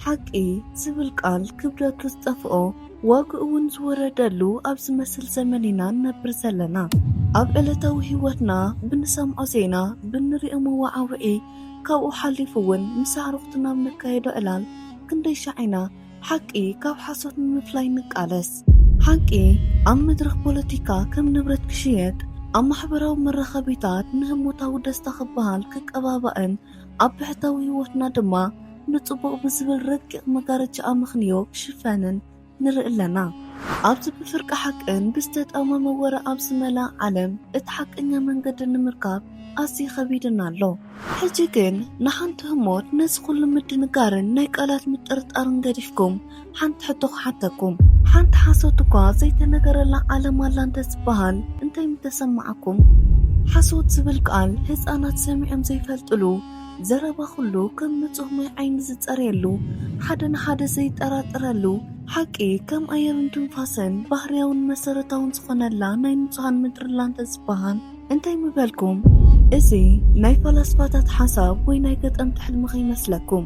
ሓቂ ዝብል ቃል ክብደቱ ዝጠፍኦ ዋግኡ ውን ዝወረደሉ ኣብ ዝመስል ዘመን ኢና ንነብር ዘለና። ኣብ ዕለታዊ ህይወትና ብንሰምዖ ዜና፣ ብንሪኦ መወዓውዒ ካብኡ ሓሊፉ ውን ምስ ኣዕሩኽትና ኣብ ነካይዶ ዕላል ክንደይ ሻዕ ኢና ሓቂ ካብ ሓሶት ንምፍላይ ንቃለስ። ሓቂ ኣብ መድረኽ ፖለቲካ ከም ንብረት ክሽየጥ፣ ኣብ ማሕበራዊ መራኸቢታት ንህሞታዊ ደስታ ክበሃል ክቀባባእን፣ ኣብ ብሕታዊ ህይወትና ድማ ንጽቡቕ ብዝብል ረቂቕ መጋረጃ ኣመኽንዮ ክሽፈንን ንርኢ ኣለና። ኣብዚ ብፍርቂ ሓቅን ብዝተጣመመ ወረ ኣብ ዝመልኣ ዓለም እቲ ሓቀኛ መንገዲ ንምርካብ ኣዝዩ ከቢዱና ኣሎ። ሕጂ ግን ንሓንቲ ህሞት ነዚ ኩሉ ምድንጋርን ናይ ቃላት ምጥርጣርን ገዲፍኩም ሓንቲ ሕቶ ክሓተኩም ሓንቲ ሓሶት እኳ ዘይተነገረላ ዓለም ኣላ እንተ ዝባሃል እንታይ ምተሰማዓኩም ሓሶት ዝብል ቃል ህጻናት ሰሚዖም ዘይፈልጥሉ ዘረባ ኩሉ ከም ንጹህ ማይ ዓይኒ ዝጸርየሉ ሓደ ንሓደ ዘይጠራጠረሉ ሓቂ ከም ኣየርን ትንፋሰን ባህርያውን መሰረታውን ዝኾነላ ናይ ንጹሃን ምድሪላ እንተ ዝባሃል እንታይ ምበልኩም እዚ ናይ ፈላስፋታት ሓሳብ ወይ ናይ ገጠምቲ ሕልሚ ከይመስለኩም።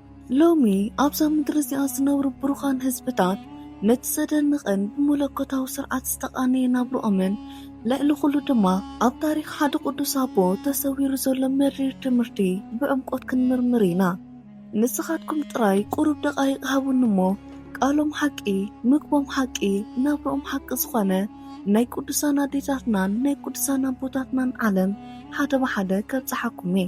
ሎሚ ኣብዛ ምድሪ እዚኣ ዝነብሩ ብሩኻን ህዝብታት ነቲ ዘደንቕን ብመለኮታዊ ስርዓት ዝተቓነየ ናብርኦምን ልዕሊ ኩሉ ድማ ኣብ ታሪኽ ሓደ ቅዱስ ኣቦ ተሰዊሩ ዘሎ መሪር ትምህርቲ ብዕምቆት ክንምርምር ኢና። ንስኻትኩም ጥራይ ቁሩብ ደቓይቕ ሃቡኒ እሞ ቃሎም ሓቂ፣ ምግቦም ሓቂ፣ ናብርኦም ሓቂ ዝኾነ ናይ ቅዱሳን ኣዴታትናን ናይ ቅዱሳን ኣቦታትናን ዓለም ሓደ ብሓደ ከብጽሓኩም እየ።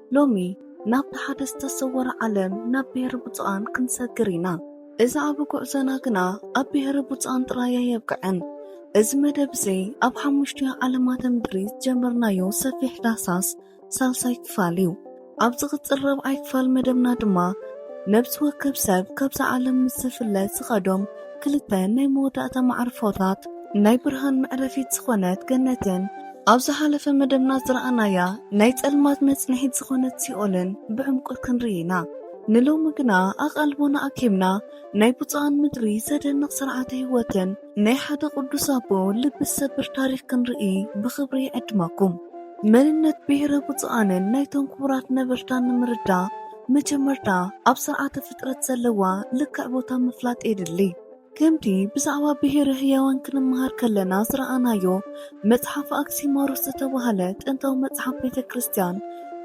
ሎሚ ናብቲ ሓደ ዝተሰወረ ዓለም ናብ ብሔረ ብፁዓን ክንሰግር ኢና። እዚ ዓቢ ጉዕዞና ግና ኣብ ብሔረ ብፁዓን ጥራይ ኣየብቅዐን። እዚ መደብ እዚ ኣብ ሓሙሽቲኡ ዓለማተ ምድሪ ዝጀመርናዮ ሰፊሕ ዳህሳስ ሳልሳይ ክፋል እዩ። ኣብ ዝቕጽል ራብዓይ ክፋል መደብና ድማ ነብሲ ወከፍ ሰብ ካብዛ ዓለም ምስ ዝፍለ ዝኸዶም ክልተ ናይ መወዳእታ መዓርፎታት ናይ ብርሃን መዕረፊት ዝኾነት ገነትን ኣብ ዝሓለፈ መደብና ዝረኣናያ ናይ ጸልማት መጽንሒት ዝኾነት ሲኦልን ብዕምቆት ክንርኢ ኢና። ንሎሚ ግና ኣቓልቦና ኣኪብና ናይ ብፁዓን ምድሪ ዘደንቕ ስርዓተ ህይወትን ናይ ሓደ ቅዱስ ኣቦ ልቢ ዝሰብር ታሪኽ ክንርኢ ብኽብሪ ይዕድመኩም። መንነት ብሔረ ብፁዓንን ናይቶም ክቡራት ነበርታን ንምርዳእ መጀመርታ ኣብ ስርዓተ ፍጥረት ዘለዋ ልክዕ ቦታ ምፍላጥ የድሊ። ከምቲ ብዛዕባ ብሄረ ህያዋን ክንመሃር ከለና ዝረኣናዮ መጽሓፍ ኣክሲማሮስ ዝተባህለ ጥንታዊ መጽሓፍ ቤተ ክርስቲያን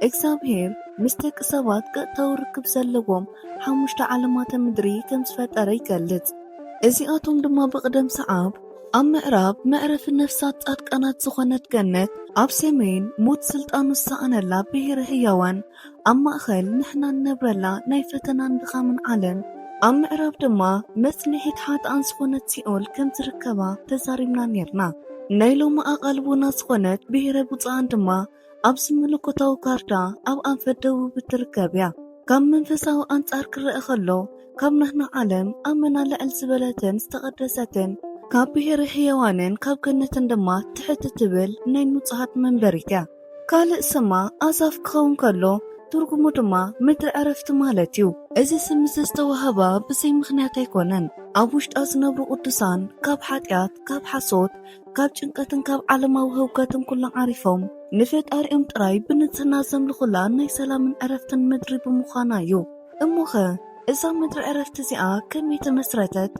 እግዚኣብሔር ምስ ደቂ ሰባት ቀጥታዊ ርክብ ዘለዎም ሓሙሽተ ዓለማተ ምድሪ ከም ዝፈጠረ ይገልጽ። እዚኣቶም ድማ ብቕደም ሰዓብ ኣብ ምዕራብ መዕረፊ ነፍሳት ጻድቃናት ዝኾነት ገነት፣ ኣብ ሰሜን ሞት ስልጣኑ ዝሰኣነላ ብሄረ ህያዋን፣ ኣብ ማእከል ንሕና እንነብረላ ናይ ፈተናን ድኻምን ዓለም፣ ኣብ ምዕራብ ድማ መጽንዒት ሓጥኣን ዝኾነት ሲኦል ከም ዝርከባ ተዛሪብና ኔርና። ናይ ሎሚ ኣቓልቦና ዝኾነት ብሄረ ብጹኣን ድማ ኣብዚ መለኮታዊ ካርታ ኣብ ኣንፈት ደቡብ እትርከብ እያ። ካብ መንፈሳዊ ኣንጻር ክረኣ ከሎ ካብ ናህና ዓለም ኣመና ልዕል ዝበለትን ዝተቐደሰትን፣ ካብ ብሄረ ሕያዋንን ካብ ገነትን ድማ ትሕት እትብል ናይ ንጹሃት መንበሪት እያ። ካልእ ስማ ኣሳፍ ክኸውን ከሎ ትርጉሙ ድማ ምድሪ ዕረፍቲ ማለት እዩ። እዚ ስም እዚ ዝተዋህባ ብዘይ ምኽንያት ኣይኮነን። ኣብ ውሽጣ ዝነብሩ ቅዱሳን ካብ ሓጢኣት፣ ካብ ሓሶት፣ ካብ ጭንቀትን ካብ ዓለማዊ ህውከትን ኩሎም ዓሪፎም ንፈጣሪኦም ጥራይ ብንጽህና ዘምልኹላ ናይ ሰላምን ዕረፍትን ምድሪ ብምዃና እዩ። እሞኸ እዛ ምድረ ዕረፍቲ እዚኣ ከመይ ተመስረተት?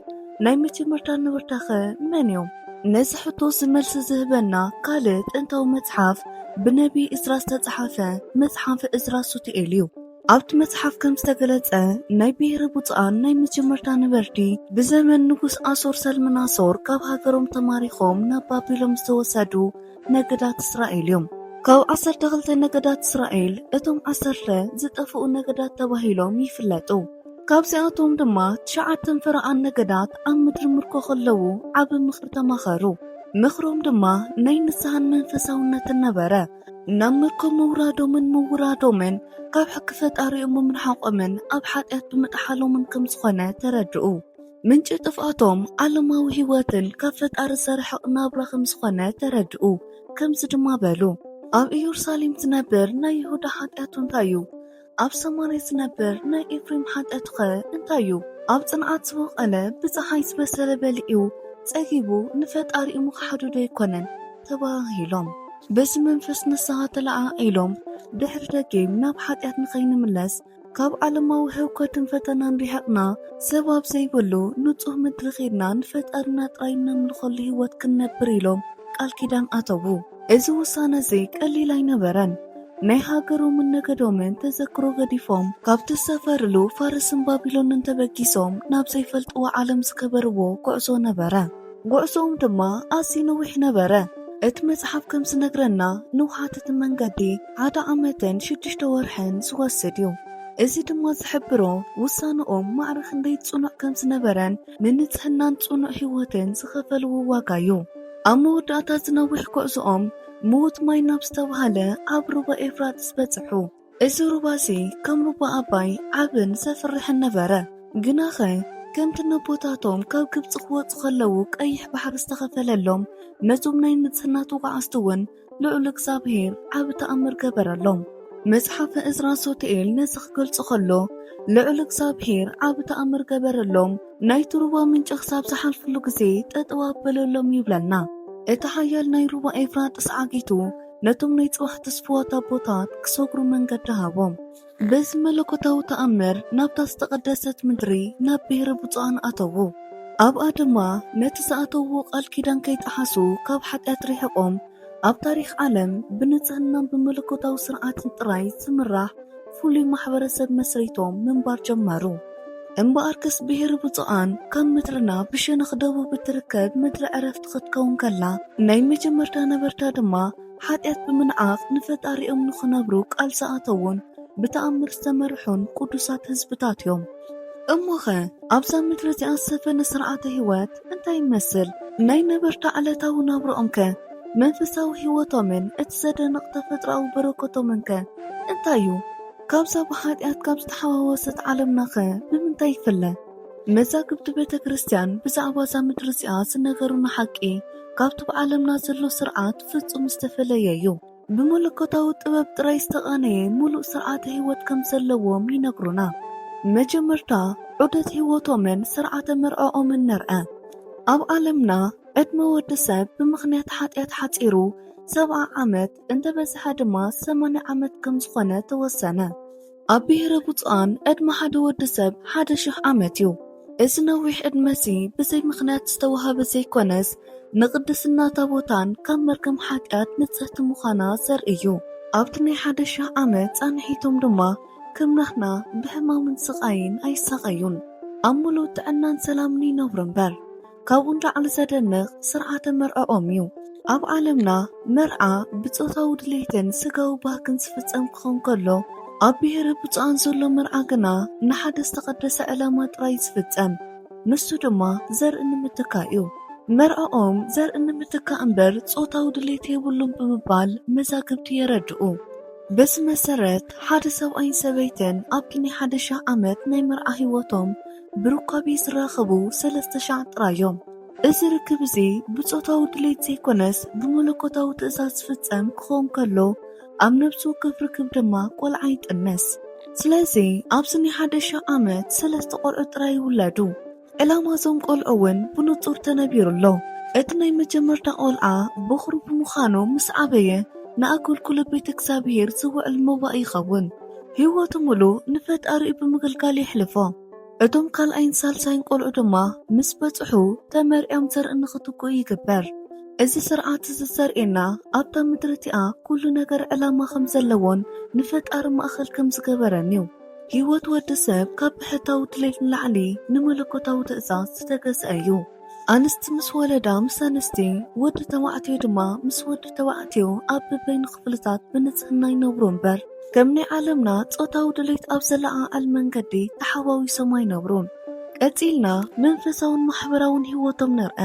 ናይ መጀመርታ ነበርታኸ መን እዮም? ነዚ ሕቶ'ዚ መልሲ ዝህበና ካልእ ጥንታዊ መጽሓፍ ብነብዪ እዝራ ዝተጻሕፈ መጽሓፈ እዝራ ሱቱኤል እዩ። ኣብቲ መጽሓፍ ከም ዝተገለጸ ናይ ብሄረ ብጹኣን ናይ መጀመርታ ነበርቲ ብዘመን ንጉስ ኣሶር ሰልምናሶር ካብ ሃገሮም ተማሪኾም ናብ ባቢሎም ዝተወሰዱ ነገዳት እስራኤል እዮም። ካብ ዓሰርተ ክልተ ነገዳት እስራኤል እቶም ዓሰርተ ዝጠፍኡ ነገዳት ተባሂሎም ይፍለጡ። ካብዚኣቶም ድማ ትሽዓተን ፈረቓን ነገዳት ኣብ ምድሪ ምርኮ ከለዉ ዓቢ ምኽሪ ተማኸሩ። ምኽሮም ድማ ናይ ንስሓን መንፈሳውነትን ነበረ። ናብ ምርኮ ምውራዶምን ምውራዶምን ካብ ሕጊ ፈጣሪኦም ብምርሓቖምን ኣብ ሓጢኣት ብምጥሓሎምን ከም ዝኾነ ተረድኡ። ምንጪ ጥፍኣቶም ዓለማዊ ህይወትን ካብ ፈጣሪ ዝተረሕቕ ናብራ ከም ዝኾነ ተረድኡ። ከምዚ ድማ በሉ፣ ኣብ ኢዮርሳሌም ዝነብር ናይ ይሁዳ ሓጢኣቱ እንታይ እዩ? ኣብ ሰማርያ ዝነብር ናይ ኤፍሬም ሓጢኣቱኸ እንታይ እዩ? ኣብ ጽንዓት ዝቦቐለ ብጸሓይ ዝበሰለ በሊዑ ጸጊቡ ንፈጣሪኡ ምኽሓዱዶ ኣይኮነን? ተበሃሂሎም። በዚ መንፈስ ንስሃ ተለዓዒሎም ድሕሪ ደጊም ናብ ሓጢኣት ንኸይንምለስ ካብ ዓለማዊ ህውከትን ፈተናን ርሒቕና፣ ሰብ ኣብ ዘይብሉ ንጹህ ምድሪ ኬድና ንፈጣሪና ጥራይ እነምልኸሉ ህይወት ክንነብር ኢሎም ቃል ኪዳን ኣተዉ። እዚ ውሳነ እዚ ቀሊል ኣይነበረን። ናይ ሃገሮምን ነገዶምን ተዘክሮ ገዲፎም፣ ካብ ዝሰፈርሉ ፋርስን ባቢሎንን ተበጊሶም ናብ ዘይፈልጥዎ ዓለም ዝገበርዎ ጉዕዞ ነበረ። ጉዕዞኦም ድማ ኣዝዩ ነዊሕ ነበረ። እቲ መጽሓፍ ከም ዝነግረና ንውሓት እቲ መንገዲ ሓደ ዓመትን ሽዱሽተ ወርሕን ዝወስድ እዩ። እዚ ድማ ዝሕብሮ ውሳነኦም ማዕረ ክንደይ ጽኑዕ ከም ዝነበረን ንንጽህናን ጽኑዕ ህይወትን ዝኸፈልዎ ዋጋ እዩ። ኣብ መወዳእታ እዚ ነዊሕ ጉዕዞኦም ምዉት ማይ ናብ ዝተባህለ ኣብ ሩባ ኤፍራጥስ በጽሑ። እዚ ሩባ'ዚ ከም ሩባ ኣባይ ዓብን ዘፍርሕን ነበረ። ግናኸ ከምቲ ነቦታቶም ካብ ግብጺ ክወጹ ከለዉ ቀይሕ ባሕሪ ዝተኸፈለሎም፣ ነቶም ናይ ንጽህና ተጓዓዝቲ'ውን ልዑል እግዚኣብሄር ዓቢ ተኣምር ገበረሎም። መጽሓፈ እዝራ ሱቱኤል ነዚ ክገልጾ ከሎ፣ ልዑል እግዚኣብሄር ዓቢ ተኣምር ገበረሎም፣ ናይቲ ሩባ ምንጪ ክሳብ ዝሓልፍሉ ግዜ ጠጠው ኣበለሎም ይብለና። እቲ ሓያል ናይ ሩባ ኤፍራጥስ ዓጊቱ፣ ነቶም ናይ ጽባሕ ትስፉዋት ኣቦታት ክሰግሩ መንገዲ ሃቦም። በዚ መለኮታዊ ተኣምር ናብታ ዝተቐደሰት ምድሪ ናብ ብሔረ ብፁዓን ኣተዉ። ኣብኣ ድማ ነቲ ዝኣተውዎ ቃል ኪዳን ከይጠሓሱ ካብ ሓጢኣት ርሒቖም ኣብ ታሪኽ ዓለም ብንጽህናን ብመለኮታዊ ስርዓትን ጥራይ ዝምራሕ ፍሉይ ማሕበረሰብ መስሪቶም ምንባር ጀመሩ። እምበኣርከስ ብሄረ ብፁዓን ካብ ምድርና ብሸነኽ ደቡብ እትርከብ ምድረ ዕረፍቲ ኽትከውን ከላ፣ ናይ መጀመርታ ነበርታ ድማ ሓጢኣት ብምንዓቕ ንፈጣሪኦም ንኽነብሩ ቃል ዝኣተዉን ብተኣምር ዝተመርሑን ቅዱሳት ህዝብታት እዮም። እሞኸ ኣብዛ ምድሪ እዚኣ ዝሰፈነ ስርዓተ ህይወት እንታይ ይመስል? ናይ ነበርታ ዕለታዊ ናብርኦምከ መንፈሳዊ ህይወቶምን እቲ ዘደንቕ ተፈጥሮኣዊ በረከቶምንከ እንታይ እዩ? ካብዛ ብሓጢኣት ካብ ዝተሓዋወሰት ዓለምናኸ ብምንታይ ይፍለ? መዛግብቲ ቤተ ክርስቲያን ብዛዕባ እዛ ምድሪ እዚኣ ዝነገሩና ሓቂ ካብቲ ብዓለምና ዘሎ ስርዓት ፍጹም ዝተፈለየ እዩ። ብመለኮታዊ ጥበብ ጥራይ ዝተቓነየ ምሉእ ስርዓተ ህይወት ከም ዘለዎም ይነግሩና። መጀመርታ ዑደት ህይወቶምን ስርዓተ መርዕዖምን ንርኣ። ኣብ ዓለምና ዕድመ ወዲ ሰብ ብምኽንያት ሓጢኣት ሓጺሩ ሰብዓ ዓመት እንተበዝሐ ድማ ሰማንያ ዓመት ከም ዝኾነ ተወሰነ። ኣብ ብሄረ ብፁዓን ዕድመ ሓደ ወዲ ሰብ ሓደ ሽሕ ዓመት እዩ። እዚ ነዊሕ ዕድመ'ዚ ብዘይ ምኽንያት ዝተዋህበ ዘይኮነስ ንቕድስና ታቦታን ካብ መርገም ሓጢኣት ንጽህቲ ምዃና ዘርኢ እዩ። ኣብቲ ናይ ሓደ ሽሕ ዓመት ጻንሒቶም ድማ ከም ናህና ብሕማምን ስቓይን ኣይሳቐዩን፣ ኣብ ምሉእ ጥዕናን ሰላምን ይነብሩ እምበር። ካብኡ ንላዕሊ ዘደንቕ ስርዓተ መርዕኦም እዩ። ኣብ ዓለምና መርዓ ብጾታዊ ድሌትን ስጋዊ ባህግን ዝፍጸም ክኸውን ከሎ፣ ኣብ ብሄረ ብጹኣን ዘሎ መርዓ ግና ንሓደ ዝተቐደሰ ዕላማ ጥራይ ዝፍጸም፣ ንሱ ድማ ዘርኢ ንምትካእ እዩ። መርዕኦም ዘርኢ ንምትካእ እምበር ጾታዊ ድሌት የብሉን ብምባል መዛግብቲ የረድኡ። በዚ መሰረት ሓደ ሰብኣይን ሰበይትን ኣብቲ ናይ ሓደ ሽሕ ዓመት ናይ መርዓ ህይወቶም፣ ብሩካቤ ዝራኸቡ ሰለስተ ሻዕ ጥራይ እዮም። እዚ ርክብ እዚ ብጾታዊ ድሌት ዘይኮነስ ብመለኮታዊ ትእዛዝ ዝፍጸም ክኸውን ከሎ፣ ኣብ ነብሲ ወከፍ ርክብ ድማ ቆልዓ ይጥንስ። ስለዚ ኣብዚ ናይ ሓደ ሽሕ ዓመት ሰለስተ ቆልዑ ጥራይ ይውለዱ። ዕላማ እዞም ቆልዑ እውን ብንጹር ተነቢሩ ኣሎ። እቲ ናይ መጀመርታ ቆልዓ በዅሪ ብምዃኑ ምስ ዓበየ ንኣገልግሎት ቤተ እግዚኣብሔር ዝውዕል መባእ ይኸውን። ህይወቱ ምሉእ ንፈጣሪኡ ብምግልጋል የሕልፎ። እቶም ካልኣይን ሳልሳይን ቆልዑ ድማ ምስ በጽሑ ተመርዕዮም ዘርኢ ንኽትክኡ ይግበር። እዚ ስርዓት እዚ ዘርእየና ኣብታ ምድሪ እቲኣ ኩሉ ነገር ዕላማ ከም ዘለዎን ንፈጣሪ ማእኸል ከም ዝገበረን እዩ። ህይወት ወዲ ሰብ ካብ ብሕታዊ ድሌት ንላዕሊ ንመለኮታዊ ትእዛዝ ዝተገዝአ እዩ። ኣንስቲ ምስ ወለዳ ምስ ኣንስቲ፣ ወዲ ተባዕትዮ ድማ ምስ ወዲ ተባዕትዮ ኣብ በበይኑ ክፍልታት ብንጽህና ይነብሩ እምበር፣ ከም ናይ ዓለምና ጾታዊ ድሌት ኣብ ዘለዓዕል መንገዲ ተሓዋዊሶም ኣይነብሩን። ቀጺልና መንፈሳውን ማሕበራውን ሕይወቶም ንርኣ።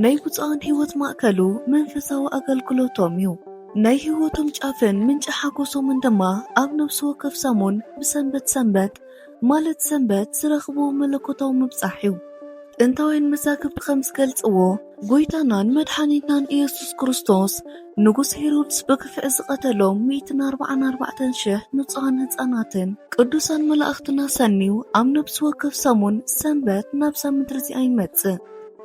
ናይ ብጹዓን ሕይወት ማእከሉ መንፈሳዊ ኣገልግሎቶም እዩ። ናይ ሕይወቶም ጫፍን ምንጪ ሓጎሶምን ድማ ኣብ ነፍሲ ወከፍ ሰሙን ብሰንበት ሰንበት፣ ማለት ሰንበት ዝረኽብዎ መለኮታዊ ምብጻሕ እዩ። ጥንታውያን መዛግብቲ ከም ዝገልጽዎ፣ ጐይታናን መድሓኒትናን ኢየሱስ ክርስቶስ፣ ንጉስ ሄሮድስ ብግፍዒ ዝቐተሎም ሚእትን ኣርብዓን ኣርባዕተን ሽሕ ንጹሃን ህጻናትን ቅዱሳን መላእኽትን ኣሰንዩ ኣብ ነብሲ ወከፍ ሰሙን ሰንበት ናብዛ ምድሪ እዚኣ ይመጽእ።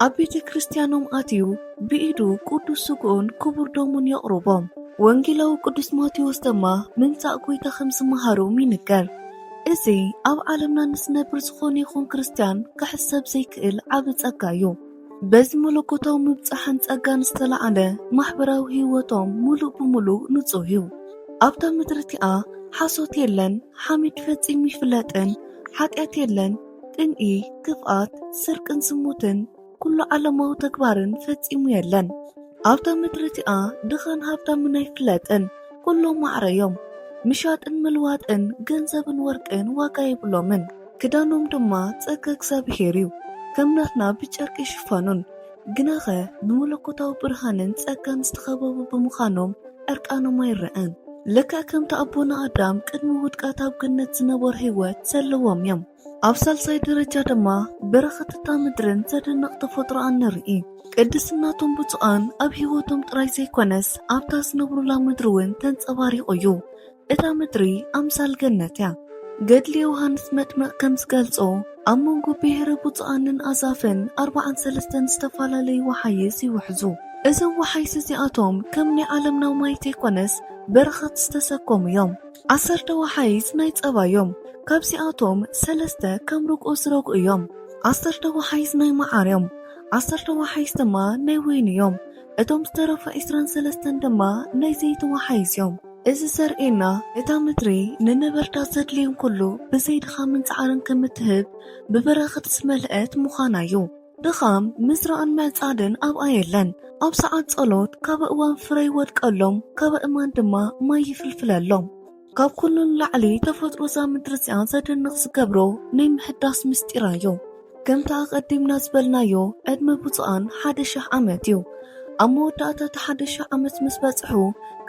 ኣብ ቤተ ክርስቲያኖም ኣትዩ ብኢዱ ቅዱስ ስግኡን ክቡር ደሙን የቕርቦም። ወንጌላዊ ቅዱስ ማቴዎስ ደማ ምምጻእ ጐይታ ከም ዝመሃሮም ይንገር። እዚ ኣብ ዓለምና ንስነብር ዝኾነ ይኹን ክርስትያን ክሕሰብ ዘይክእል ዓቢ ጸጋ እዩ። በዚ መለኮታዊ ምብጻሕን ጸጋን ዝተላዕለ ማሕበራዊ ህይወቶም ምሉእ ብምሉእ ንጹህ እዩ። ኣብታ ምድሪ እቲኣ ሓሶት የለን፣ ሓሜት ፈጺሙ ኣይፍለጥን፣ ሓጢኣት የለን፣ ቅንኢ፣ ክፍኣት፣ ስርቅን ዝሙትን፣ ኩሉ ዓለማዊ ተግባርን ፈጺሙ የለን ኣብታ ምድሪ እቲኣ ድኻን ሃብታምን ኣይፍለጥን ኩሎም ማዕረ እዮም ምሻጥን ምልዋጥን ገንዘብን ወርቅን ዋጋ የብሎምን ክዳኖም ድማ ጸጋ እግዚኣብሄር እዩ ከም ናትና ብጨርቂ ይሽፈኑን ግናኸ ብመለኮታዊ ብርሃንን ጸጋን ዝተኸበቡ ብምዃኖም ዕርቃኖም ኣይረኣን ልክዕ ከምቲ ኣቦና ኣዳም ቅድሚ ውድቀት ኣብ ገነት ዝነበሮ ህይወት ዘለዎም እዮም ኣብ ሳልሳይ ደረጃ ድማ በረኸት እታ ምድርን ዘደንቕ ተፈጥሮኣን ንርኢ። ቅድስናቶም ብፁዓን ኣብ ህይወቶም ጥራይ ዘይኮነስ ኣብታ ዝነብሩላ ምድሪ እውን ተንጸባሪቑ እዩ። እታ ምድሪ ኣምሳል ገነት እያ። ገድሊ ዮሃንስ መጥምቕ ከም ዝገልጾ ኣብ መንጎ ብሄረ ብፁዓንን ኣዛፍን ኣርብዓን ሰለስተን ዝተፈላለዩ ወሓይስ ይውሕዙ። እዞም ወሓይስ እዚኣቶም ከም ናይ ዓለምና ማይ ዘይኮነስ በረኸት ዝተሰከሙ እዮም። ዓሰርተ ወሓይዝ ናይ ጸባ እዮም ካብዚኣቶም ሰለስተ ከም ርግኦ ዝረግኡ እዮም ዓሰርተ ወሓይዝ ናይ መዓር እዮም ዓሰርተ ወሓይዝ ድማ ናይ ወይኒ እዮም እቶም ዝተረፉ ዕስራን ሰለስተን ድማ ናይ ዘይቲ ወሓይዝ እዮም። እዚ ዘርእየና እታ ምድሪ ንነበርታ ዘድልዮም ኩሉ ብዘይ ድኻምን ጻዕርን ከም እትህብ ብበረኸት ዝመልአት ምዃና እዩ። ድኻም ምዝራእን ምዕጻድን ኣብኣ የለን። ኣብ ሰዓት ጸሎት ካበእዋን ፍረ ይወድቀሎም፣ ካበእማን ድማ ማይ ይፍልፍለሎም። ካብ ኩሉ ንላዕሊ ተፈጥሮ እዛ ምድሪ እዚኣ ዘደንቕ ዝገብሮ ናይ ምሕዳስ ምስጢራ እዩ። ከምቲ ኣቐዲምና ዝበልናዮ ዕድመ ብጹኣን ሓደ ሽሕ ዓመት እዩ። ኣብ መወዳእታ እቲ ሓደ ሽሕ ዓመት ምስ በጽሑ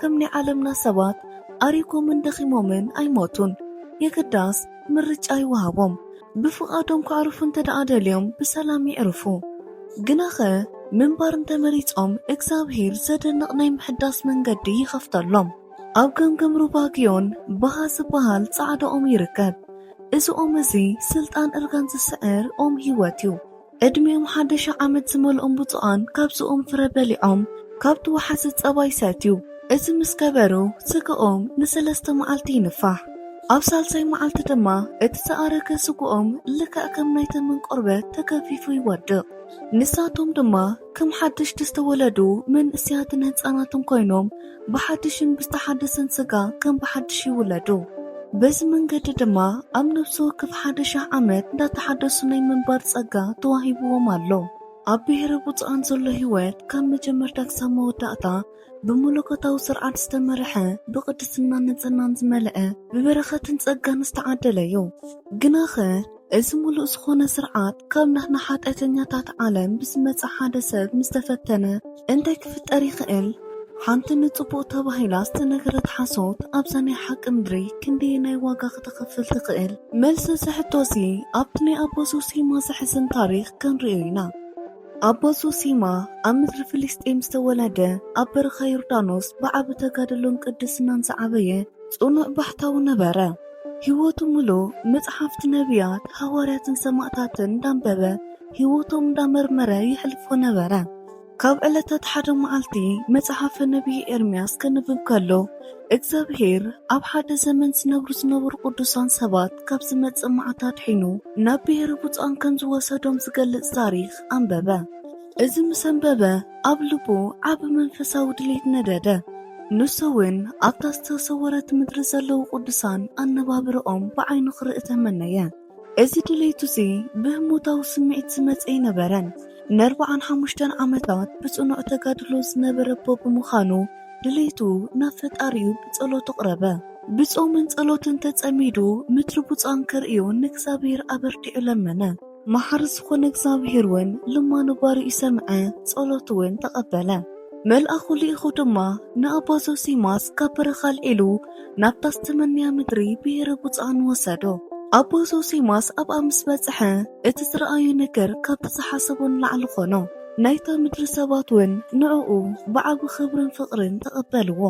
ከም ናይ ዓለምና ሰባት ኣሪጎምን ደኺሞምን ኣይሞቱን። የግዳስ ምርጫ ይወሃቦም። ብፍቓዶም ክዕርፉ እንተደኣ ደልዮም ብሰላም ይዕርፉ። ግናኸ ምንባር እንተመሪጾም እግዚኣብሄር ዘደንቕ ናይ ምሕዳስ መንገዲ ይኸፍተሎም። ኣብ ገምገም ሩባ ግዮን በሃ ዝበሃል ጻዕዳ ኦም ይርከብ። እዚ ኦም እዚ ስልጣን እርጋን ዝስዕር ኦም ህይወት እዩ። ዕድሜኦም ሓደሻ ዓመት ዝመልኦም ብፁዓን ካብዝኦም ፍረ በሊዖም ካብ ትውሓዚ ጸባ ይሰትዩ። እዚ ምስ ገበሩ ስጋኦም ንሰለስተ መዓልቲ ይንፋሕ። ኣብ ሳልሳይ መዓልቲ ድማ እቲ ዝኣረገ ስግኦም ልክዕ ከም ናይ ተመን ቆርበት ተገፊፉ ይወድቕ። ንሳቶም ድማ። ከም ሓደሽቲ ዝተወለዱ መንእስያትን ህፃናትን ኮይኖም ብሓድሽን ብዝተሓደሰን ስጋ ከም ብሓድሽ ይውለዱ። በዚ መንገዲ ድማ ኣብ ነብሲ ወከፍ ሓደ ሽሕ ዓመት እንዳተሓደሱ ናይ ምንባር ጸጋ ተዋሂብዎም ኣሎ። ኣብ ብሄረ ብፁዓን ዘሎ ሕይወት ካብ መጀመርታ ክሳብ መወዳእታ ብመለኮታዊ ስርዓት ዝተመርሐ፣ ብቅድስናን ንጽህናን ዝመልአ፣ ብበረኸትን ጸጋን ዝተዓደለ'ዩ። ግናኸ እዚ ምሉእ ዝኾነ ስርዓት ካብ ናህና ሓጢኣተኛታት ዓለም ብዝመጸ ሓደ ሰብ ምስ ተፈተነ እንታይ ክፍጠር ይኽእል? ሓንቲ ንጽቡቕ ተባሂላ ዝተነገረት ሓሶት ኣብዛ ናይ ሓቂ ምድሪ ክንደየናይ ዋጋ ከተኽፍል ትኽእል? መልሲ እዚ ሕቶ'ዚ ኣብቲ ናይ ኣባ ዞሲማ ዘሕዝን ታሪኽ ክንርእዮ ኢና። ኣቦ ዞሲማ ኣብ ምድሪ ፍልስጤም ዝተወለደ፣ ኣብ በረኻ ዮርዳኖስ ብዓቢ ተጋድሎን ቅድስናን ዝዓበየ ጽኑዕ ባሕታዊ ነበረ። ህይወቱ ምሉእ መጽሓፍቲ ነብያት፣ ሃዋርያትን ሰማእታትን እንዳንበበ፣ ህይወቶም እንዳመርመረ የሕልፎ ነበረ። ካብ ዕለታት ሓደ መዓልቲ መጽሓፈ ነብዪ ኤርምያስ ከንብብ ከሎ፣ እግዝኣብሄር ኣብ ሓደ ዘመን ዝነብሩ ዝነበሩ ቅዱሳን ሰባት ካብ ዝመጽእ መዓት ኣድሒኑ ናብ ብሄረ ብጹኣን ከም ዝወሰዶም ዝገልጽ ታሪኽ ኣንበበ። እዚ ምስ ኣንበበ ኣብ ልቡ ዓቢ መንፈሳዊ ድሌት ነደደ። ንሱውን ኣብታ ዝተሰወረት ምድሪ ዘለዉ ቅዱሳን ኣነባብራኦም ብዓይኑ ክርኢ ተመነየ። እዚ ድሌቱ'ዚ ብህሞታዊ ስምዒት ዝመጸ ኣይነበረን። ንኣርብዓን ሓሙሽተን ዓመታት ብጽኑዕ ተጋድሎ ዝነበረ'ቦ ብምዃኑ፣ ድሌቱ ናብ ፈጣሪኡ ብጸሎት ኣቕረበ። ብጾምን ጸሎትን ተጸሚዱ ምድሪ ብጹኣን ከርእዮ ንእግዚኣብሄር ኣበርቲዑ ለመነ። መሓሪ ዝኾነ እግዚኣብሄር'ውን ልማኖ ባሪኡ ሰምዐ፣ ጸሎቱ'ውን ተቐበለ። መልኣኹ ልኢኹ ድማ ንኣባ ዞሲማስ ካብ በረኻ ኣልዒሉ ናብታ ዝተመነያ ምድሪ ብሄረ ብፁዓን ወሰዶ። ኣባ ዞሲማስ ኣብኣ ምስ በጽሐ እቲ ዝረኣዮ ነገር ካብቲ ዝሓሰቦ ንላዕሊ ኾኖ። ናይታ ምድሪ ሰባት ውን ንዕኡ ብዓቢ ኽብርን ፍቕርን ተቐበልዎ።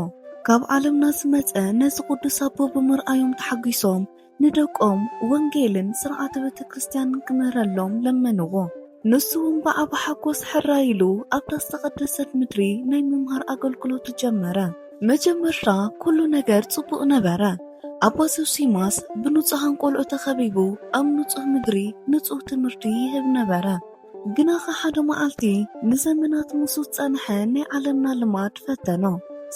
ካብ ዓለምና ዝመጸ ነዚ ቅዱስ ኣቦ ብምርኣዮም ተሓጒሶም ንደቆም ወንጌልን ሥርዓተ ቤተክርስትያንን ክምህረሎም ለመንዎ። ንሱውን ብዓቢ ሓጎስ ሕራይ ኢሉ ኣብታ ዝተቐደሰት ምድሪ ናይ ምምሃር ኣገልግሎቱ ጀመረ። መጀመርታ ኩሉ ነገር ጽቡቕ ነበረ። ኣባ ዞሲማስ ብንጹሓን ቆልዑ ተኸቢቡ ኣብ ንጹሕ ምድሪ ንጹሕ ትምህርቲ ይህብ ነበረ። ግናኸ ሓደ መዓልቲ ንዘመናት ምስኡ ዝጸንሐ ናይ ዓለምና ልማድ ፈተኖ።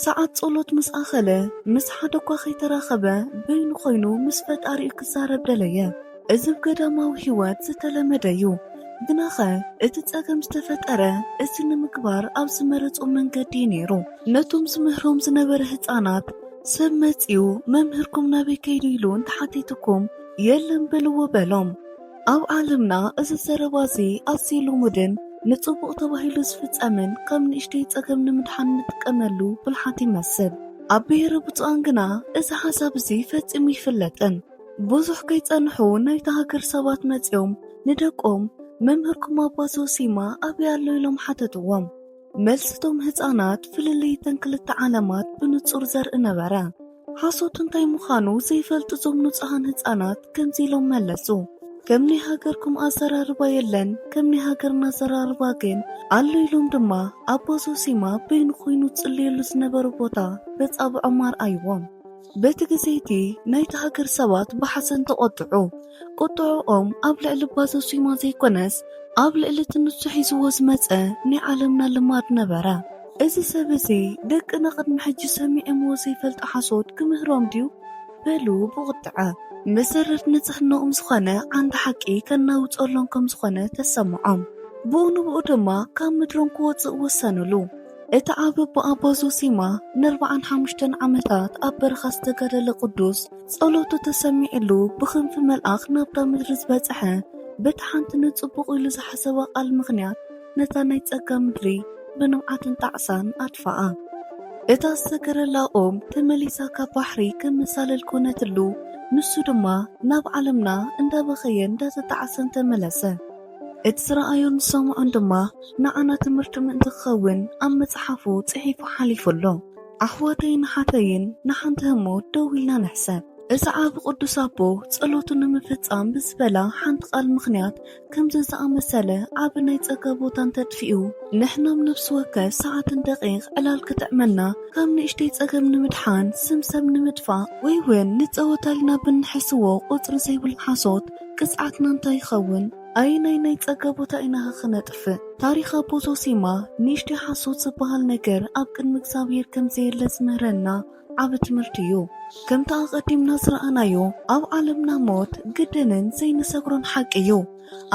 ሰዓት ጸሎት ምስ ኣኸለ፣ ምስ ሓደ እኳ ከይተራኸበ በይኑ ኮይኑ ምስ ፈጣሪኡ ክዛረብ ደለየ። እዚ ብ ገዳማዊ ሕይወት ዝተለመደ እዩ። ግናኸ እቲ ጸገም ዝተፈጠረ እዚ ንምግባር ኣብ ዝመረጾ መንገዲ እዩ ነይሩ። ነቶም ዝምህሮም ዝነበረ ህጻናት፣ ሰብ መጺኡ መምህርኩም ናበይ ከይዱ ኢሉ እንተሓቲትኩም የለን በልዎ በሎም። ኣብ ዓለምና እዚ ዘረባ እዚ ኣዝዩ ልሙድን ንጽቡቕ ተባሂሉ ዝፍጸምን ካብ ንእሽተይ ጸገም ንምድሓን እንጥቀመሉ ብልሓት ይመስል። ኣብ ብሄረ ብጹኣን ግና እዚ ሓሳብ እዚ ፈጺሙ ኣይፍለጥን። ብዙሕ ከይጸንሑ ናይታ ሃገር ሰባት መጺኦም ንደቆም መምህርኩም ኣባ ዞሲማ ኣበይ ኣሎ ኢሎም ሓተትዎም። መልሲ እቶም ህጻናት ፍልልይ እተን ክልተ ዓለማት ብንጹር ዘርኢ ነበረ። ሓሶት እንታይ ምዃኑ ዘይፈልጡ እዞም ንጹሃን ህጻናት ከምዚ ኢሎም መለሱ፣ ከም ናይ ሃገርኩም ኣዘራርባ የለን፣ ከም ናይ ሃገርና ኣዘራርባ ግን ኣሎ ኢሎም ድማ ኣባ ዞሲማ በይኑ ኮይኑ ዝጽልየሉ ዝነበረ ቦታ በጻብዖም ኣርኣይዎም። በቲ ግዜ'ቲ ናይታ ሃገር ሰባት ብሓዘን ተቖጥዑ። ቁጥዐኦም ኣብ ልዕሊ እባ ዘሱይማ ዘይኮነስ ኣብ ልዕሊ እቲ ንሱ ሒዝዎ ዝመጸ ናይ ዓለምና ልማድ ነበረ። እዚ ሰብ እዚ ደቅና ቅድሚ ሕጂ ሰሚዖምዎ ዘይፈልጡ ሓሶት ክምህሮም ድዩ? በሉ ብቑጥዐ። መሰረት ንጽህንኦም ዝኾነ ዓንዲ ሓቂ ከናውጸሎም ከም ዝኾነ ተሰምዖም። ብኡ ንብኡ ድማ ካብ ምድሮም ክወጽእ ወሰንሉ። እቲ ኣብ ኣቦ ዞሲማ ንርብዓን ሓሙሽተን ዓመታት ኣብ በረኻ ዝተጋደለ ቅዱስ ጸሎቱ ተሰሚዕሉ ብክንፊ መልኣኽ ናብታ ምድሪ ዝበጽሐ በቲ ሓንቲ ንጽቡቕ ኢሉ ዝሓሰባ ቃል ምኽንያት ነታ ናይ ጸጋ ምድሪ ብንብዓትን ጣዕሳን ኣድፍኣ እታ ዝተገረላ ኦም ተመሊሳ ካብ ባሕሪ ከም መሳልል ኮነትሉ ንሱ ድማ ናብ ዓለምና እንዳበኸየን እንዳተጣዕሰን ተመለሰ። እቲ ዝረኣዮን ዝሰምዖን ድማ ንዓና ትምህርቲ ምእንቲ ክኸውን ኣብ መጽሓፉ ጽሒፉ ሓሊፉ ኣሎ። ኣሕዋተይን ኣሓተይን ንሓንቲ ህሞት ደው ኢልና ንሕሰብ። እዚ ዓቢ ቅዱስ ኣቦ ጸሎቱ ንምፍጻም ብዝበላ ሓንቲ ቃል ምኽንያት ከምዚ ዝኣመሰለ ዓቢ ናይ ጸጋ ቦታ እንተጥፊኡ ንሕናም ነፍሲ ወከፍ ሰዓትን ደቂቅ ዕላል ክጥዕመና ካብ ንእሽተይ ጸገም ንምድሓን ስም ሰብ ንምጥፋእ ወይ ውን ንጸወታ ኢልና ብንሕስዎ ቁጽሪ ዘይብሉ ሓሶት ቅፅዓትና እንታይ ይኸውን? ኣየናይ ናይ ፀጋ ቦታ ኢናኸ ክነጥፍእ? ታሪኽ ኣቦ ዞሲማ ንእሽተይ ሓሶት ዝበሃል ነገር ኣብ ቅድሚ እግዚኣብሄር ከም ዘየለ ዝምህረና ዓቢ ትምህርቲ እዩ። ከምቲ ኣቐዲምና ዝረኣናዮ ኣብ ዓለምና ሞት ግድንን ዘይንሰግሮን ሓቂ እዩ።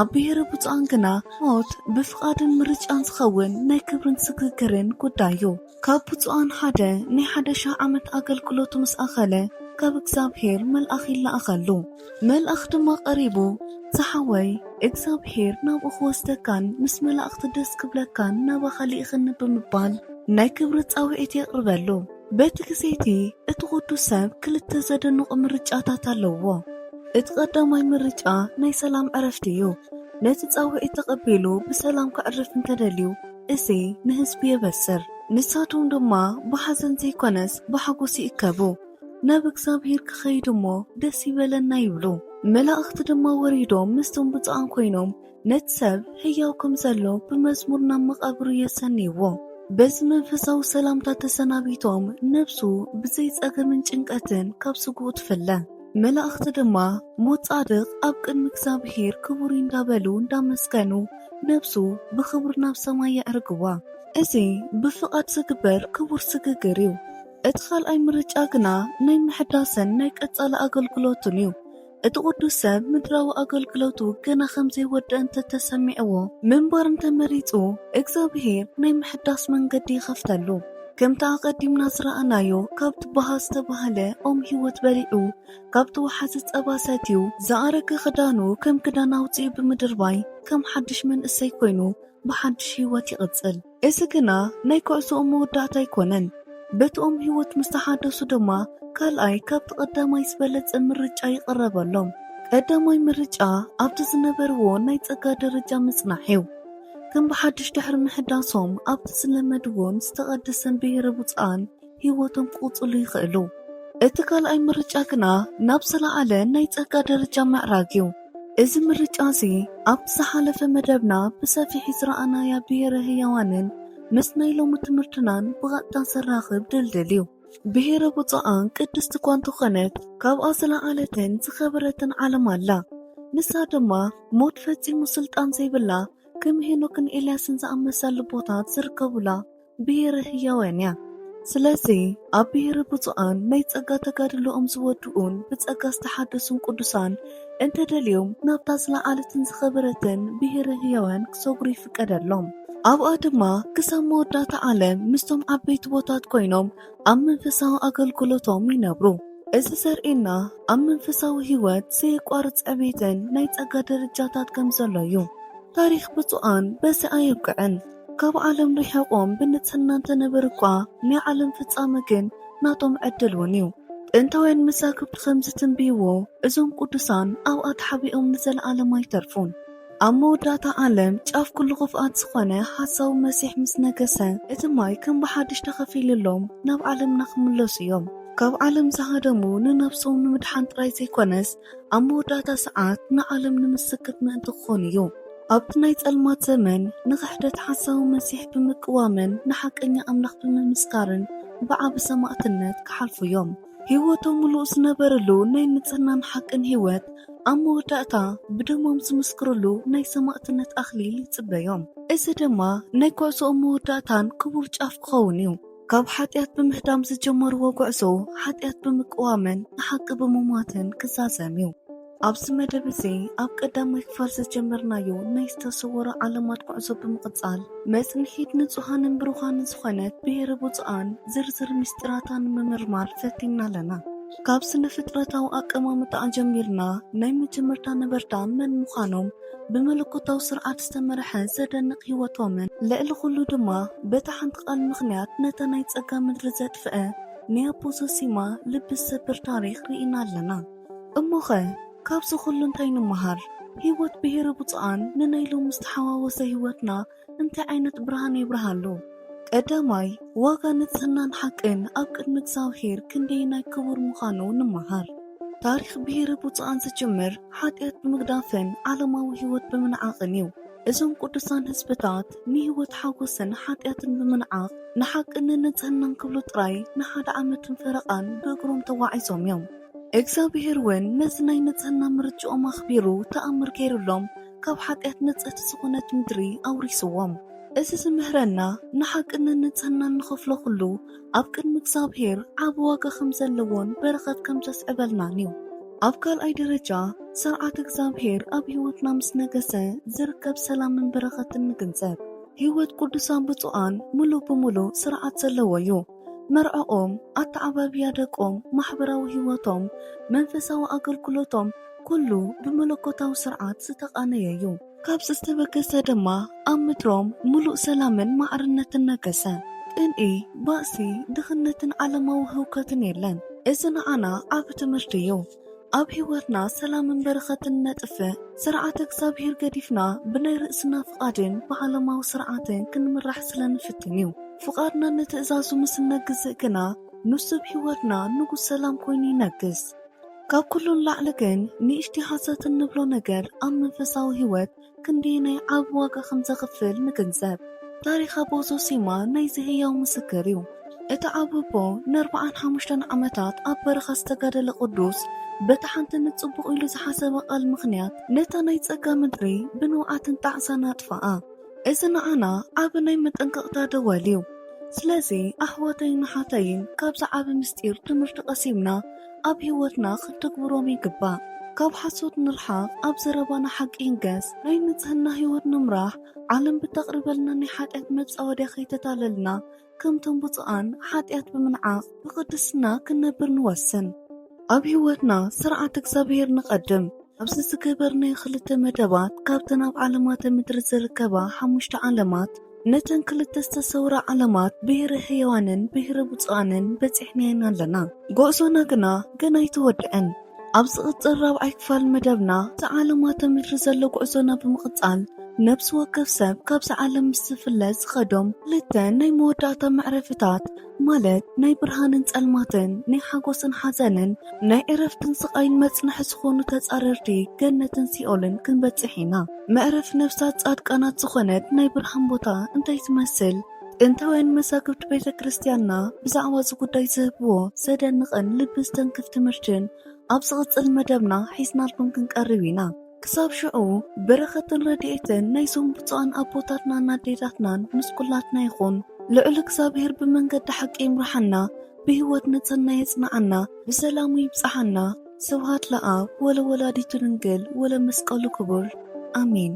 ኣብ ብሄረ ብፁዓን ግና ሞት ብፍቓድን ምርጫን ዝኸውን ናይ ክብርን ስግግርን ጉዳይ እዩ። ካብ ብፁዓን ሓደ ናይ ሓደ ሽሕ ዓመት ኣገልግሎቱ ምስ ኣኸለ ካብ እግዚኣብሔር መልኣኽ ይለኣኸሉ። መልኣኽ ድማ ቀሪቡ ዝሓወይ እግዚኣብሔር ናብኡ ክወስደካን ምስ መላእኽቲ ደስ ክብለካን ናባኻ ልኢኸኒ ብምባል ናይ ክብሪ ጻውዒት የቕርበሉ። በቲ ግዜ እቲ እቲ ቅዱስ ሰብ ክልተ ዘደንቑ ምርጫታት ኣለዉዎ። እቲ ቀዳማይ ምርጫ ናይ ሰላም ዕረፍቲ እዩ። ነቲ ጻውዒት ተቐቢሉ ብሰላም ከዕርፍ እንተደልዩ፣ እዚ ንህዝቢ የበስር፣ ንሳቶም ድማ ብሓዘን ዘይኰነስ ብሓጐስ ይእከቡ፣ ናብ እግዚኣብሄር ኪኸይዱ እሞ ደስ ይበለና ይብሉ። መላእኽቲ ድማ ወሪዶም ምስቶም ብጹኣን ኰይኖም ነቲ ሰብ ህያው ከም ዘሎ ብመዝሙር ናብ መቓብሩ የሰንይዎ። በዚ መንፈሳዊ ሰላምታ ተሰናቢቶም ነፍሱ ብዘይ ጸገምን ጭንቀትን ካብ ስግኡ ትፍለ። መላእክቲ ድማ ሞት ጻድቅ ኣብ ቅድሚ እግዚኣብሔር ክቡር እዩ እንዳበሉ እንዳመስገኑ ነብሱ ብክብሪ ናብ ሰማይ የዕርግዋ። እዚ ብፍቃድ ዝግበር ክቡር ስግግር እዩ። እቲ ካልኣይ ምርጫ ግና ናይ ምሕዳስን ናይ ቀጻሊ ኣገልግሎቱን እዩ። እቲ ቅዱስ ሰብ ምድራዊ ኣገልግሎቱ ገና ከም ዘይወደኣ እንተ ተሰሚዕዎ ምንባር እንተ መሪጹ እግዚኣብሔር ናይ ምሕዳስ መንገዲ ይኸፍተሉ። ከምቲ ኣቐዲምና ዝረኣናዮ ካብቲ ባህ ዝተባህለ ኦም ህይወት በሊዑ ካብቲ ወሓዚ ጸባ ሰትዩ ዝኣረገ ክዳኑ ከም ክዳን ኣውጺኡ ብምድርባይ ከም ሓድሽ መንእሰይ ኮይኑ ብሓድሽ ህይወት ይቕጽል። እዚ ግና ናይ ኩዕሶኦም መወዳእታ ኣይኮነን። በቲ ኦም ህይወት ምስ ተሓደሱ ድማ ካልኣይ ካብቲ ቀዳማይ ዝበለጸ ምርጫ ይቕረበሎም። ቀዳማይ ምርጫ ኣብቲ ዝነበርዎ ናይ ጸጋ ደረጃ ምጽናሕ'ዩ። ከም ብሓድሽ ድሕሪ ምሕዳሶም ኣብቲ ዝለመድዎን ዝተቐደሰን ብሄረ ብፁዓን ሕይወቶም ክቕጽሉ ይኽእሉ። እቲ ካልኣይ ምርጫ ግና ናብ ዝለዓለ ናይ ጸጋ ደረጃ ምዕራግ እዩ። እዚ ምርጫ እዚ ኣብቲ ዝሓለፈ መደብና ብሰፊሒ ዝረኣናያ ብሄረ ሕያዋንን ምስ ናይ ሎሚ ትምህርትናን ብቐጥታ ዘራኽብ ድልድል እዩ። ብሔረ ብፁዓን ቅድስት እኳ እንተኾነት ካብኣ ዝለዓለትን ዝኸበረትን ዓለም ኣላ። ንሳ ድማ ሞት ፈጺሙ ስልጣን ዘይብላ ከም ሄኖክን ኤልያስን ዝኣመሰሉ ልቦታት ዝርከቡላ ብሔረ ህያዋን እያ። ስለዚ ኣብ ብሔረ ብፁዓን ናይ ጸጋ ተጋድሎኦም ዝወድኡን ብጸጋ ዝተሓደሱን ቅዱሳን እንተ ደልዮም ናብታ ዝለዓለትን ዝኸበረትን ብሄረ ህያዋን ክሰግሩ ይፍቀደሎም። ኣብኣ ድማ ክሳብ መወዳእታ ዓለም ምስቶም ዓበይቲ ቦታት ኮይኖም ኣብ መንፈሳዊ ኣገልግሎቶም ይነብሩ። እዚ ዘርእየና ኣብ መንፈሳዊ ህይወት ዘየቋርጽ ዕቤትን ናይ ጸጋ ደረጃታት ከም ዘሎ እዩ። ታሪኽ ብጹኣን በዚ ኣየብቅዕን። ካብ ዓለም ርሒቖም ብንጽህና እንተነበሩ እኳ፣ ናይ ዓለም ፍጻመ ግን ናቶም ዕድል እውን እዩ። ጥንታውያን መዛግብቲ ኸም ዚትንብይዎ፣ እዞም ቅዱሳን ኣብኣ ተሓቢኦም ንዘለኣለም ኣይተርፉን። ኣብ መወዳእታ ዓለም፣ ጫፍ ኵሉ ኽፍኣት ዝዀነ ሓሳዊ መሲሕ ምስ ነገሰ፣ እቲ ማይ ከም ብሓድሽ ተኸፊሉሎም ናብ ዓለምና ኺምለሱ እዮም። ካብ ዓለም ዝሃደሙ ንነፍሶም ንምድሓን ጥራይ ዘይኰነስ፣ ኣብ መወዳእታ ሰዓት ንዓለም ንምስክት ምእንቲ ክኾኑ እዩ። ኣብቲ ናይ ጸልማት ዘመን፣ ንኽሕደት ሓሳዊ መሲሕ ብምቅዋምን ንሓቀኛ ኣምላኽ ብምምስካርን ብዓቢ ሰማእትነት ክሓልፉ እዮም። ህይወቶም ምሉእ ዝነበርሉ ናይ ንጽህናን ሓቅን ህይወት፣ ኣብ መወዳእታ ብደሞም ዝምስክርሉ ናይ ሰማእትነት ኣኽሊል ይጽበዮም። እዚ ድማ ናይ ጕዕዞኦም መወዳእታን ክቡር ጫፍ ክኸውን እዩ። ካብ ሓጢኣት ብምህዳም ዝጀመርዎ ጉዕዞ ሓጢኣት ብምቅዋምን ንሓቂ ብምሟትን ክዛዘም እዩ። ኣብዚ መደብ እዚ ኣብ ቀዳማይ ክፋል ዝጀመርናዮ ናይ ዝተሰወሩ ዓለማት ጉዕዞ ብምቕጻል መጽንሒት ንጹሃንን ብሩኻንን ዝኾነት ብሔረ ብፁዓን ዝርዝር ምስጢራታ ንምምርማር ፈቲንና ኣለና። ካብ ስነ ፍጥረታዊ ኣቀማምጣኣ ጀሚርና ናይ መጀመርታ ነበርታ መን ምዃኖም ብመለኮታዊ ስርዓት ዝተመርሐ ዘደንቕ ህይወቶምን ልዕሊ ኹሉ ድማ በታ ሓንቲ ቃል ምኽንያት ነታ ናይ ጸጋ ምድሪ ዘጥፍኣ ናይ ኣቦ ዞሲማ ልቢ ዝሰብር ታሪኽ ርኢና ኣለና። እሞኸ ካብዚ ኹሉ እንታይ ንመሃር? ህይወት ብሄረ ብጹዓን ንናይ ሎሚ ዝተሓዋወሰ ህይወትና እንታይ ዓይነት ብርሃን የብርሃ ኣሎ? ቀዳማይ፣ ዋጋ ንጽህናን ሓቅን ኣብ ቅድሚ እግዚኣብሔር ክንደየናይ ክቡር ምዃኑ ንመሃር። ታሪኽ ብሄረ ብፁዓን ዝጅምር ሓጢኣት ብምግዳፍን ዓለማዊ ሕይወት ብምንዓቕን እዩ። እዞም ቅዱሳን ሕዝብታት ንሕይወት ሓጐስን ሓጢኣትን ብምንዓቕ ንሓቅን ንንጽህናን ክብሉ ጥራይ ንሓደ ዓመትን ፈረቓን ብእግሮም ተጓዒዞም እዮም። እግዚኣብሔር እውን ነዚ ናይ ንጽህና ምርጭኦም ኣኽቢሩ ተኣምር ገይሩሎም ካብ ሓጢኣት ንጽህቲ ዝኾነት ምድሪ ኣውሪስዎም። እዚ ዝምህረና ንሓቅነት ንጽህናን ንኸፍሎ ኩሉ ኣብ ቅድሚ እግዚኣብሔር ዓቢ ዋጋ ከም ዘለዎን በረኸት ከም ዘስዕበልናን እዩ። ኣብ ካልኣይ ደረጃ ሥርዓት እግዚኣብሔር ኣብ ሕይወትና ምስ ነገሠ ዝርከብ ሰላምን በረኸትን ንግንዘብ። ሕይወት ቅዱሳን ብፁዓን ምሉእ ብምሉእ ሥርዓት ዘለዎ እዩ። መርዕኦም፣ ኣተዓባብያ ደቆም፣ ማሕበራዊ ህይወቶም፣ መንፈሳዊ ኣገልግሎቶም ኩሉ ብመለኮታዊ ስርዓት ዝተቓነየ እዩ። ካብዚ ዝተበገሰ ድማ ኣብ ምድሮም ምሉእ ሰላምን ማዕርነትን ነገሰ። ቅንኢ፣ ባእሲ፣ ድኽነትን ዓለማዊ ህውከትን የለን። እዚ ንዓና ዓቢ ትምህርቲ እዩ። ኣብ ሕይወትና ሰላምን በረኸትን ነጥፍእ። ሥርዓተ እግዚኣብሔር ገዲፍና ብናይ ርእስና ፍቓድን ብዓለማዊ ሥርዓትን ክንምራሕ ስለ ንፍትን እዩ። ፍቓድና ንትእዛዙ ምስ እነግዝእ ግና ንሱ ኣብ ሕይወትና ንጉሥ ሰላም ኮይኑ ይነግሥ። ካብ ኩሉ ንላዕሊ ግን ንእሽቲ ሓሰት እንብሎ ነገር ኣብ መንፈሳዊ ሕይወት ክንደየናይ ዓቢ ዋጋ ከም ዘኽፍል ንግንዘብ። ታሪኽ ኣቦ ዞሲማ ናይዚ ህያው ምስክር እዩ። እቲ ዓቢ ኣቦ ንኣርብዓን ሓሙሽተን ዓመታት ኣብ በረኻ ዝተጋደለ ቅዱስ፣ በታ ሓንቲ ንጽቡቕ ኢሉ ዝሓሰባ ቃል ምኽንያት ነታ ናይ ጸጋ ምድሪ ብንውዓትን ጣዕሳን ኣጥፍኣ። እዚ ንዓና ዓቢ ናይ መጠንቀቕታ ደወል እዩ። ስለዚ ኣሕዋተይን ኣሓተይን ካብዚ ዓቢ ምስጢር ትምህርቲ ቀሲምና፣ ኣብ ህይወትና ክንተግብሮም ይግባእ። ካብ ሓሶት ንርሓቕ፣ ኣብ ዘረባና ሓቂ ይንገስ፣ ናይ ንጽህና ህይወት ንምራሕ፣ ዓለም ብተቕርበልና ናይ ሓጢኣት መጻወድያ ከይተታለልና፣ ከምቶም ብጹኣን ሓጢኣት ብምንዓቕ ብቕድስና ክንነብር ንወስን። ኣብ ህይወትና ስርዓት እግዚኣብሔር ነቐድም። ኣብዚ ዝገበርናዮ ክልተ መደባት ካብተን ኣብ ዓለማተ ምድሪ ዝርከባ ሓሙሽተ ዓለማት፣ ነተን ክልተ ዝተሰውራ ዓለማት ብሄረ ሕያዋንን ብሄረ ብፁዓንን በጺሕናየን ኣለና። ጉዕዞና ግና ገና ኣይተወድኣን። ኣብ ዝቕጽል ራብዓይ ክፋል መደብና እቲ ዓለማተ ምድሪ ዘሎ ጉዕዞና ብምቕጻል ነብሲ ወከፍ ሰብ ካብዛ ዓለም ምስ ዝፍለ ዝኸዶም ክልተ ናይ መወዳእታ መዕረፍታት ማለት ናይ ብርሃንን ጸልማትን፣ ናይ ሓጎስን ሓዘንን፣ ናይ ዕረፍትን ስቓይን መጽንሒ ዝኾኑ ተጻረርቲ ገነትን ሲኦልን ክንበጽሕ ኢና። መዕረፊ ነፍሳት ጻድቃናት ዝኾነት ናይ ብርሃን ቦታ እንታይ ትመስል? ጥንታውያን መዛግብቲ ቤተ ክርስቲያንና ብዛዕባ እዚ ጉዳይ ዝህብዎ ዘደንቕን ልቢ ዝተንክፍ ትምህርትን ኣብ ዝቕጽል መደብና ሒዝናልኩም ክንቀርብ ኢና። ክሳብ ሽዑ በረኸትን ረድኤትን ናይዞም ብፁዓን ኣቦታትናን ኣዴታትናን ምስ ኩላትና ይኹን። ልዑል እግዚኣብሔር ብመንገዲ ሓቂ ይምርሓና፣ ብሕይወት ንጽህና የጽንዓና፣ ብሰላሙ ይብጽሓና። ስብሃት ለኣብ ወለወላዲቱ ድንግል ወለመስቀሉ ክቡር ኣሜን።